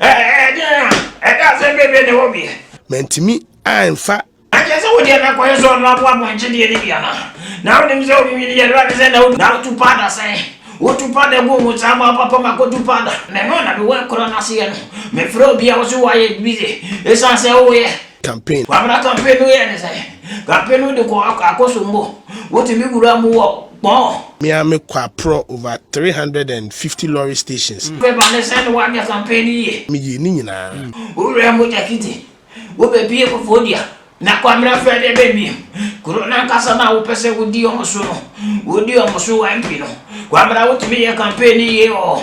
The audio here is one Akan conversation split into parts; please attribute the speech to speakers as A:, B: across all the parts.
A: Ɛdeɛn a ɛda asɛm bebree na ɛwɔ bi. Mantumi amfa. Ɛkyerɛ sɛ wodeɛ na kwan so ɔno aboa pɔnkye deɛ no bi anaa? Na wonim sɛ onwinwini yɛ Awurade sɛ na wotu na wotu powder sɛn? Wotu powder gu wo nsa ma papa ma kɔtu powder. Meno na mewɔ ɛkorɔ no aseɛ no. Mefrɛ obiara wo so woayɛ busy ɛsiane sɛ woyɛ. campaign. Kwabena campaign no yɛ ne sɛ campaign no de kɔ akoso mbo wotumi wura mu wɔ kpɔɔ. Me a me kɔ aprɔ over three hundred and fifty lorry stations. Paper ne sɛ ne wanyɛ campaign no yie. Me yie ne nyinaa. Wo wura mu jakiti wo bɛ bie fofoɔ dua. Na kwabena fɛ deɛ bɛ biem kuro no ankasa no a wo pɛ sɛ wo di ɔmo so no wo di ɔmo so YP no kwabena wotumi yɛ campaign no yie ɔɔ.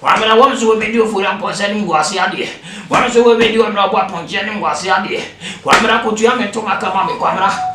A: Hwan na wɔn nso wɔbɛdi Ofori Ampɔnsa anim wɔ ase adeɛ? Hwan nso wɔbɛdi Ɔno a ɔbɔ apɔnkye anim wɔ ase adeɛ? Kwamina kɔtua me ntoma ka ma me, Kwamina.